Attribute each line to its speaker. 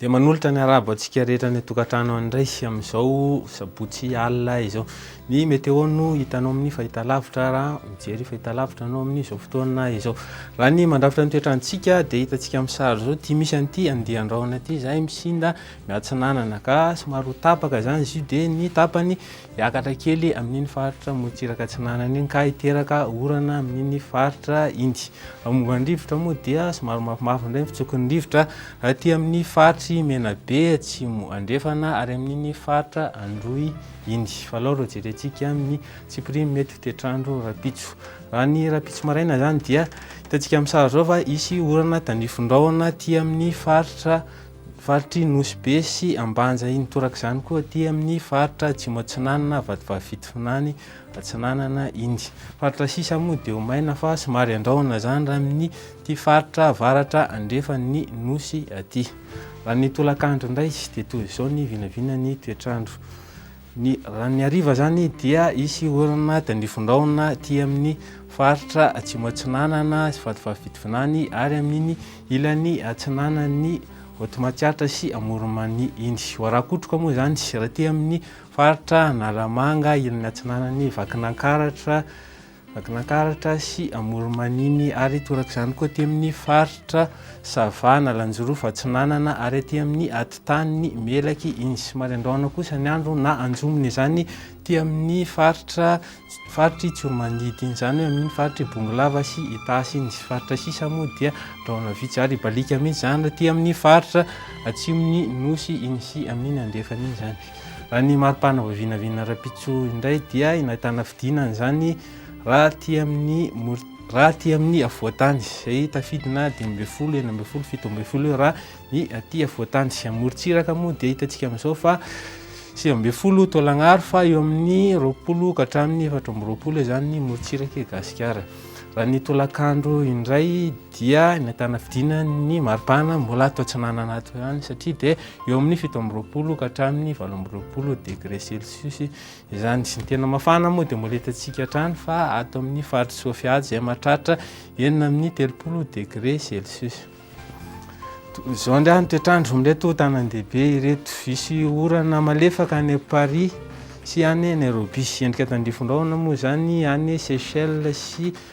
Speaker 1: Dia manolotra ny arabo antsika rehetra any an-tokantrano any indray amin'izao sabotsy alina izao. Ny météo no hitanao amin'ny fahitalavitra raha mijery fahitalavitra anao amin'izao fotoana izao. Raha ny mandrafitra ny toetrantsika dia hitantsika amin'ny sary izao ity misy an'ity andian-drahona ity izay misinda miatsinanana ka somary ho tapaka izany izy io dia ny tapany Hiakatra kely amin'iny faritra Motsiraka Atsinanana iny ka hiteraka orana amin'iny faritra iny. Momba ny rivotra moa dia somary mafimafy indray ny fitsokon'ny rivotra aty amin'ny faritry Menabe atsimo andrefana ary amin'iny faritra Androy iny. Fa alao ireo jerentsika amin'ny tsipirimo mety ho toetr'andro rahampitso. Raha ny rahampitso maraina izany dia hitantsika amin'ny sary izao fa hisy orana tandrifindraona aty amin'ny faritra Faritr'i Nosy Be sy Ambanja iny toraka izany koa aty amin'ny faritra Atsimo Atsinanana, Vatovavy Fitovinany Atsinanana iny. Faritra sisa moa dia omaina fa somary andrahona izany raha amin'ity faritra avaratra andrefan'ny Nosy aty. Raha ny tolakandro indray dia toy izao ny vinavinan'ny toetr'andro. Ny ran'ny hariva izany dia hisy orana dia nifindraona aty amin'ny faritra Atsimo Atsinanana sy Vatovavy Fitovinany ary amin'iny ilany atsinanan'ny Vaotomatsiatra sy Amoronmania iny. Ho arakotroka moa izany sy aty amin'ny faritra Analamanga ilany atsinanan'ny Vakinankaratra, Vakinankaratra sy Amoronmaniny ary torak'izany koa aty amin'ny faritra Sava, Analanjirofo Atsinanana ary aty amin'ny atitaniny Melaky Insy. Somary andrahona kosa ny andro na anjomony izany aty amin'ny faritra faritr'i Tsiromandidy iny, izany hoe amin'iny faritr'i Bongolava sy Itasy iny. Ny faritra sisa moa dia andrahona vitsy ary hibaliaka mihitsy izany aty amin'ny faritra atsimon'ny Nosy iny sy amin'iny andrefany iny izany. Raha ny mari-pana vao vinavina rahampitso indray dia nahitana fidinana izany raha aty amin'ny mor- raha aty amin'ny afovoantany izay tafidina dimy ambin'ny folo, enina ambin'ny folo, fito ambin'ny folo eo raha ny aty afovoantany. Sy amorontsiraka moa dia hitantsika amin'izao fa sivy ambin'ny folo taolagnaro fa eo amin'ny roapolo ka hatramin'ny efatra amby roapolo izany ny morontsiraka i Gasikara. Raha ny tolakandro indray dia nahitana fidina ny maripana mbola ato atsinanana ato ihany satria dia eo amin'ny fito amby roapolo ka hatramin'ny valo amby roapolo degré celsius izany sy ny tena mafana moa dia mbola hitantsika hatrany fa ato amin'ny faritry Sofia izay mahatratra enina amin'ny telopolo degré celsius izao indray ny toetrandro amin'ireto tanàn-dehibe ireto hisy orana malefaka any Paris sy any Nairobi endrika tandrifindraona moa izany any Seychelles sy